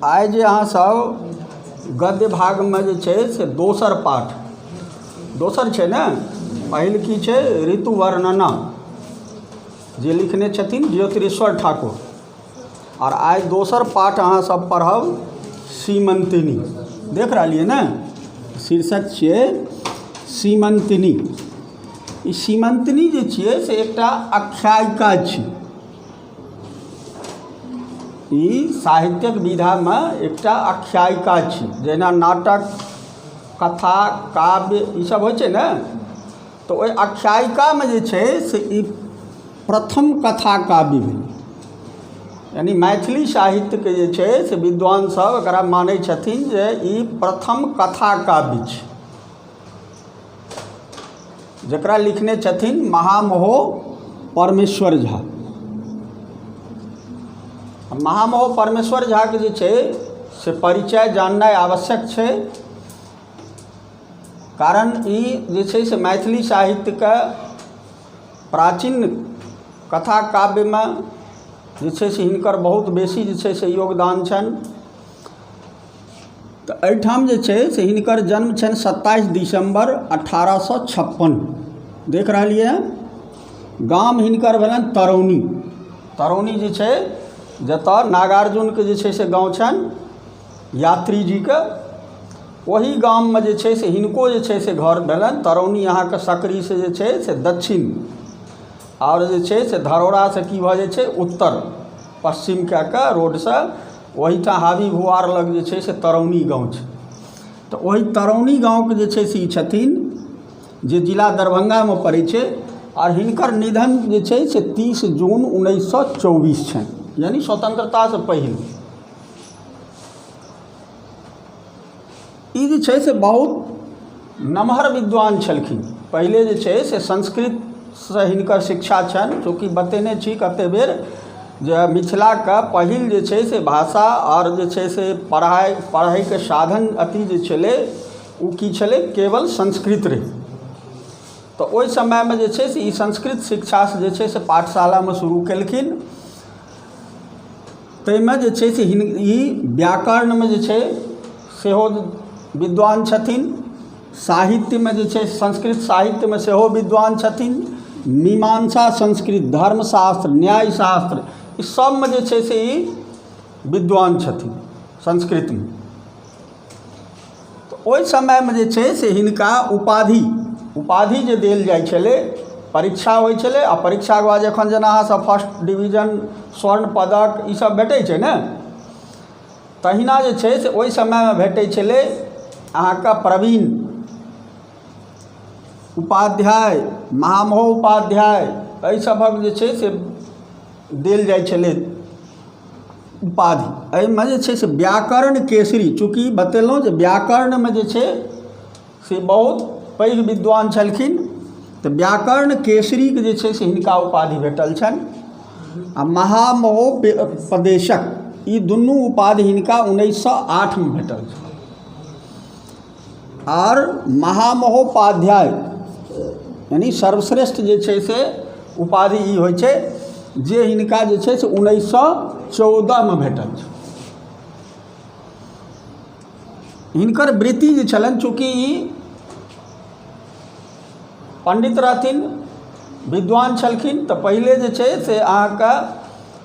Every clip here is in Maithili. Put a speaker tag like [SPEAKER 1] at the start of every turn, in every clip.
[SPEAKER 1] आइ जे अहाँ सब गद्य भागमे जे छै से दोसर पाठ दोसर छै ने पहिल की छै ऋतु वर्णना जे लिखने छथिन ज्योतिरेश्वर ठाकुर आओर आइ दोसर पाठ अहाँ सब पढ़ब सीमंतिनी देख रहलियै ने शीर्षक छियै सीमंतिनी ई सीमन्तनी जे छियै से एकटा आख्यायिका छी ई साहित्यिक विधामे एकटा आख्यायिका छी जहिना नाटक कथा काव्य ई सब होइ छै ने तऽ ओहि आख्यायिकामे जे छै से ई प्रथम कथा काव्य भेलै यानि मैथिली साहित्यके जे छै से विद्वान सब एकरा मानै छथिन जे ई प्रथम कथा काव्य छी जकरा लिखने छथिन महामहो परमेश्वर झा महामहो परमेश्वर झाके जे छै से परिचय जाननाइ आवश्यक छै कारण ई जे छै से मैथिली साहित्यके प्राचीन कथा काव्यमे जे छै से हिनकर बहुत बेसी जे छै से योगदान छनि तऽ एहिठाम जे छै से हिनकर जन्म छनि सत्ताइस दिसम्बर अठारह सए छप्पन देख रहलियै हँ गाम हिनकर भेलनि तरौनी तरौनी जे छै जतय नागार्जुनके जे छै से गाँव छनि यात्री जीके ओहि गाममे जे छै से हिनको जे छै से घर भेलनि तरौनी अहाँके सकरीसँ जे छै से दक्षिण आओर जे छै से धरौरासँ की भऽ जाइ छै उत्तर पश्चिम कए कऽ रोडसँ ओहिठाम हाबी भुआर लग जे छै से तरौनी गाँव छै तऽ ओहि तरौनी गाँवके जे छै से ई छथिन जे जिला दरभंगामे पड़ै छै आ हिनकर निधन जे छै से तीस जून उन्नैस सए चौबीस छनि यानि स्वतंत्रतासँ पहिले ई जे छै से बहुत नमहर विद्वान छलखिन पहिले जे छै से संस्कृतसँ हिनकर शिक्षा छनि चूँकि बतेने छी कतेक बेर जे मिथिलाके पहिल जे छै से भाषा आओर जे छै से पढ़ाइ पढ़ैके साधन अथी जे छलै ओ कि छलै केवल संस्कृत रहै तऽ ओहि समयमे जे छै से ई संस्कृत शिक्षासँ जे छै से पाठशालामे शुरू केलखिन ताहिमे जे छै से ई व्याकरणमे जे छै सेहो विद्वान छथिन साहित्यमे जे छै संस्कृत साहित्यमे सेहो विद्वान छथिन मीमांसा संस्कृत धर्मशास्त्र न्यायशास्त्र ई सभमे जे छै से ई विद्वान छथिन संस्कृतमे तऽ ओहि समयमे जे छै से हिनका उपाधि उपाधि जे देल जाइ छलै परीक्षा होइ छलै आ परीक्षाके बाद जखन जेना अहाँसभ फर्स्ट डिवीजन स्वर्ण पदक ईसभ भेटै छै ने तहिना जे छै से ओहि समयमे भेटै छलै अहाँकेँ प्रवीण उपाध्याय महामहोपाध्याय एहि सभक जे छै से देल जाइ छलै उपाधि एहिमे जे छै से व्याकरण केसरी चूँकि बतेलहुँ जे व्याकरणमे जे छै से बहुत पैघ विद्वान छलखिन तऽ व्याकरण केसरीके जे छै से हिनका उपाधि भेटल छनि आ महामहोपदेशक ई दुनू उपाधि हिनका उन्नैस सए आठमे भेटल छनि आओर महामहोपाध्याय यानि सर्वश्रेष्ठ जे छै से उपाधि ई होइ छै जे हिनका जे छै से उन्नैस सए चौदहमे भेटल छनि हिनकर वृत्ति जे छलनि चूँकि ई पण्डित रहथिन विद्वान छलखिन तऽ पहिले जे छै से अहाँके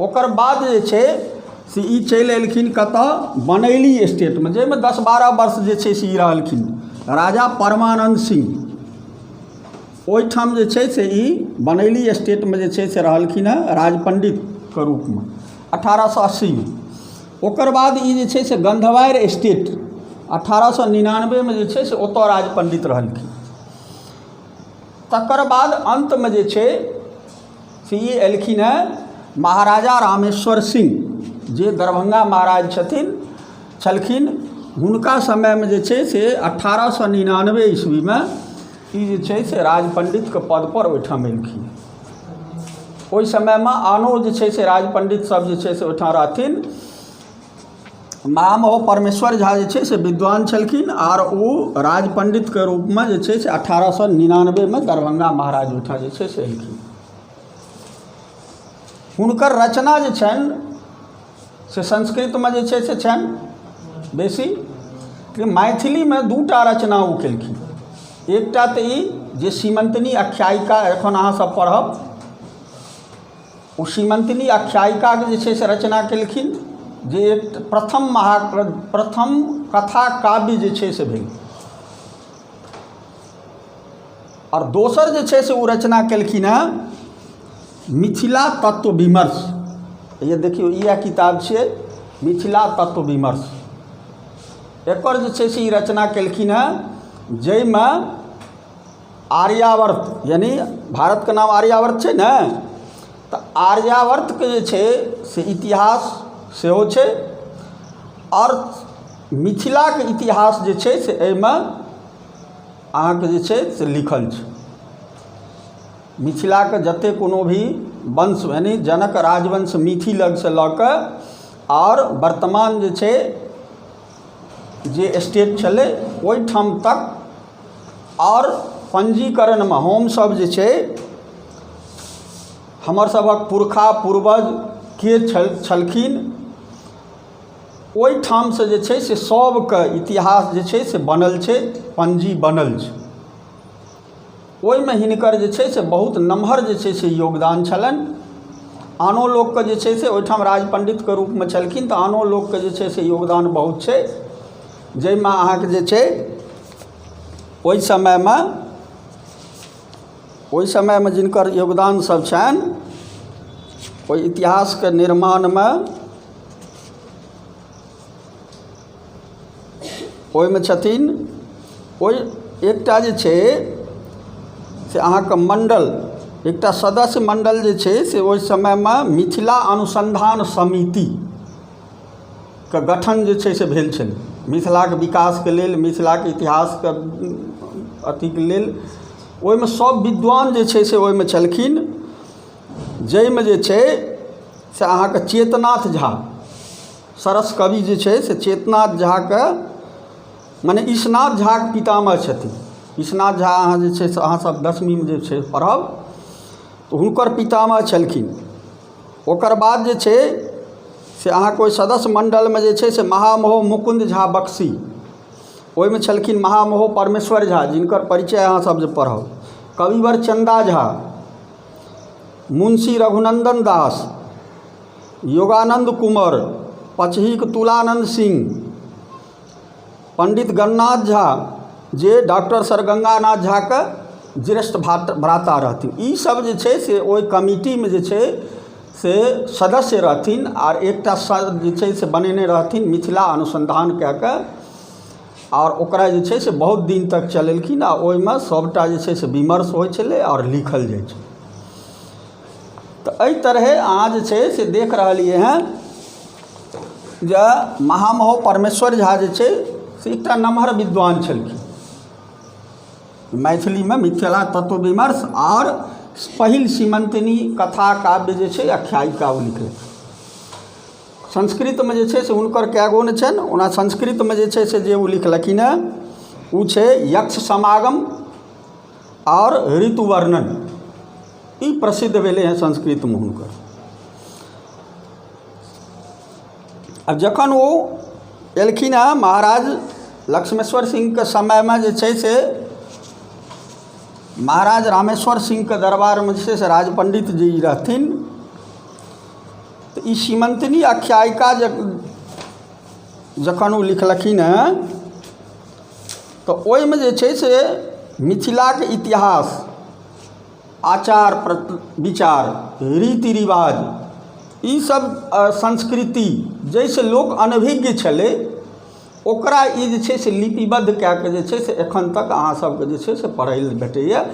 [SPEAKER 1] ओकर बाद जे छै से ई चलि एलखिन कतय बनैली स्टेटमे जाहिमे दस बारह वर्ष जे छै से ई रहलखिन राजा परमानन्द सिंह ओहिठाम जे छै से ई बनैली स्टेटमे जे छै से रहलखिन हेँ राजपण्डितके रूपमे अठारह सए अस्सीमे ओकर बाद ई जे छै से गन्धवारि स्टेट अठारह सए निनानबेमे जे छै से ओतय राजपण्डित रहलखिन तकर बाद अन्तमे जे छै से ई एलखिन हेँ महाराजा रामेश्वर सिंह जे दरभंगा महाराज छथिन छलखिन हुनका समयमे जे छै से अठारह सए निनानबे ईस्वीमे ई जे छै से राज पण्डितके पदपर ओहिठाम एलखिन ओहि समयमे आनो जे छै से राज पण्डितसभ जे छै से ओहिठाम रहथिन महामहो परमेश्वर झा जे छै से विद्वान छलखिन आर ओ राज पण्डितके रूपमे जे छै से अठारह सए निनानबेमे दरभंगा महाराज ओहिठाम जे छै से एलखिन हुनकर रचना जे छनि से संस्कृतमे जे छै से छनि बेसी कि मैथिलीमे दू टा रचना ओ केलखिन एकटा तऽ ई जे सीमंतनी आख्यायिका एखन अहाँसभ पढ़ब ओ सीमन्तिनी आख्यायिकाके जे छै से रचना केलखिन जे प्रथम महा प्रथम कथा काव्य जे छै से भेल आओर दोसर जे छै से ओ रचना केलखिन हँ मिथिला तत्व विमर्श ये देखियौ इएह किताब छियै मिथिला तत्व विमर्श एकर जे छै से ई रचना केलखिन हँ जाहिमे आर्यावर्त यानि भारतके नाम आर्यावर्त छै ने तऽ आर्यावर्तके जे छै से इतिहास सेहो छै आओर मिथिलाके इतिहास जे छै से एहिमे अहाँके जे छै से लिखल छै मिथिलाके जतेक कोनो भी वंश यानि जनक राजवंश मिथिलाके लऽ कऽ आओर वर्तमान जे छै जे स्टेट छलै ओहि ठाम तक आओर पञ्जीकरणमे हमसभ जे छै हमर सभक पुरखा पूर्वज के छल छलखिन ओहि ठामसँ जे छै से सभके इतिहास जे छै से बनल छै पञ्जी बनल छै ओहिमे हिनकर जे छै से बहुत नमहर जे छै से योगदान छलनि आनो लोकके जे छै से ओहिठाम राज पण्डितके रूपमे छलखिन तऽ आनो लोकके जे छै से योगदान बहुत छै जाहिमे अहाँके जे छै ओहि समयमे ओहि समयमे जिनकर योगदान सब छनि ओहि इतिहासके निर्माणमे ओहिमे छथिन ओहि एकटा जे छै से अहाँके मण्डल एकटा सदस्य मण्डल जे छै से ओहि समयमे मिथिला अनुसन्धान समितिके गठन जे छै से भेल छलै मिथिलाके विकासके लेल मिथिलाके इतिहासके अथीके लेल ओहिमे सभ विद्वान जे छै से ओहिमे छलखिन जाहिमे जे छै से अहाँके चेतनाथ झा सरस कवि जे छै से चेतनाथ झाके मने ईशनाथ झाके पितामह छथिन ईशनाथ झा अहाँ जे छै से अहाँसभ दसमीमे जे छै पढ़ब तऽ हुनकर पितामह छलखिन ओकर बाद जे छै से अहाँके ओहि सदस्य मण्डलमे जे छै से महामहो मुकुन्द झा बक्सी ओहिमे छलखिन महामहो परमेश्वर झा जिनकर परिचय अहाँसभ जे पढ़ब कविवर चन्दा झा मुंशी रघुनन्दन दास योगानन्द कुँवर पचहीक तुलानन्द सिंह पण्डित गणनाथ झा जे डॉक्टर सर गङ्गानाथ झाके ज्येष्ठ भात भ्राता रहथिन ईसभ जे छै से ओहि कमिटीमे जे छै से सदस्य रहथिन आ एकटा सर जे छै से बनेने रहथिन मिथिला अनुसन्धान कए कऽ आओर ओकरा जे छै से बहुत दिन तक चलेलखिन आ ओहिमे सभटा जे छै से विमर्श होइ छलै आओर लिखल जाइ छलै तऽ एहि तरहेँ अहाँ जे छै से देख रहलियै हँ जे महामहो परमेश्वर झा जे छै से एकटा नमहर विद्वान छलखिन मैथिलीमे मिथिला तत्व विमर्श आओर पहिल सीमन्तिनी कथा काव्य जे छै आख्यायिका ओ लिखलखिन संस्कृतमे जे छै से हुनकर कए गो ने छनि ओना संस्कृतमे जे छै से जे ओ लिखलखिन हेँ ओ छै यक्ष समागम आओर ऋतु वर्णन ई प्रसिद्ध भेलै हँ संस्कृतमे हुनकर आ जखन ओ एलखिन हँ महाराज लक्ष्मेश्वर सिंहके समयमे जे छै से महाराज रामेश्वर सिंहके दरबारमे जे छै से राज पण्डित जी रहथिन तऽ ई सीमन्तिनी आख्यायिका जखन ओ लिखलखिन हँ तऽ ओहिमे जे छै से मिथिलाके इतिहास आचार विचार रीति रिवाज ई सब संस्कृति जाहिसँ लोक अनभिज्ञ छलै ओकरा ई जे छै से लिपिबद्ध कए कऽ जे छै से एखन तक अहाँ सबके जे छै से पढ़ै लए भेटैए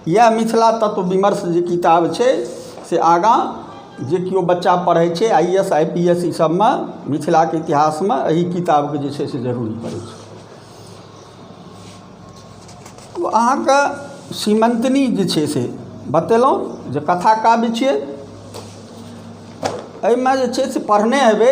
[SPEAKER 1] इएह मिथिला तत्व विमर्श जे किताब छै से आगाँ जे केओ बच्चा पढ़ै छै I A S I P S ई सबमे मिथिलाके इतिहासमे एहि किताबके जे छै से जरूरी पड़ै छै अहाँके सीमन्तनी जे छै से बतेलहुँ जे कथा काव्य छियै एहिमे जे छै से पढ़ने हेबै